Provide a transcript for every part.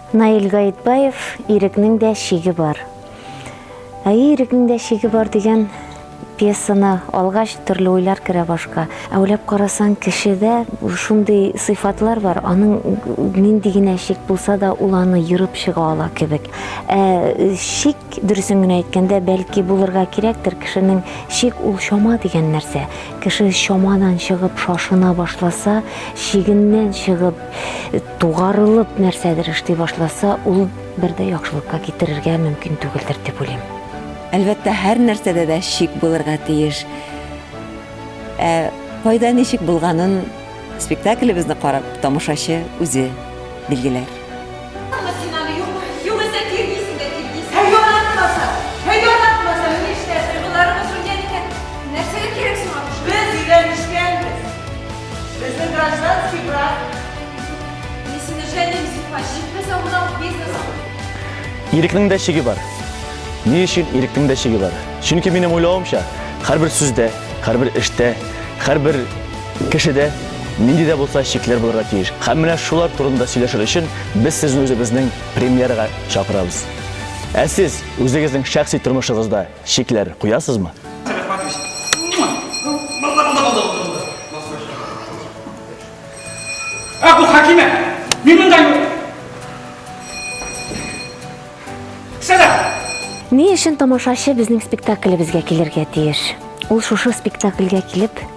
Наил Гаетбаев ирекнең дә шиге бар. Ә ирекнең дә шиге бар дигән пьесаны алгач төрле уйлар керә башка. Ә уйлап карасаң, кешедә шундый сыйфатлар бар, аның нинди генә шик булса да, ул аны ерып чыга ала кебек. Ә шик Дөресен генә әйткәндә, бәлки булырга кирәктер, кешенең чик ул чама дигән нәрсә. Кеше чамадан чыгып шашына башласа, чигеннән чыгып, тугарылып нәрсәдер эшли башласа, ул бер дә яхшылыкка китерергә мөмкин түгелдер дип уйлыйм. Әлбәттә, һәр нәрсәдә дә чик булырга тиеш. Ә файда ничек булганын Спектаклебезне карап, тамашачы үзе билгеләр. Ирекнең дә чиге бар. Ни өчен ирекнең дә чиге бар? Чөнки минем уйлавымча, һәрбер сүздә, һәрбер эштә, һәрбер Кешедә нинди дә булса чикләр булырга тиеш. Һәм менә шулар турында сөйләшер өчен без сезне үзебезнең премьерага чакырабыз. Ә сез үзегезнең шәхси тормышыгызда чикләр куясызмы? Ни өчен тамашачы безнең спектаклебезгә килергә тиеш? Ул шушы спектакльгә килеп,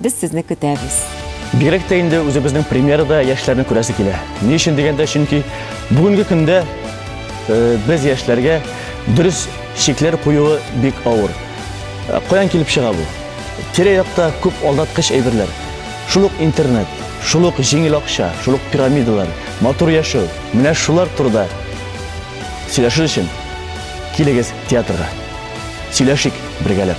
Без сезне көтәбез. Бигрәк тә инде үзебезнең премьерада яшьләрне күрәсе килә. Ни өчен дигәндә, чөнки бүгенге көндә э, без яшьләргә дөрес шикләр куюы бик авыр. Э, каян килеп чыга бу? Тирә-якта күп алдаткыч әйберләр. Шул ук интернет, шул ук җиңел акча, шул ук пирамидалар, матур яшәү. Менә шулар турында сөйләшер өчен килегез театрга. Сөйләшик бергәләп.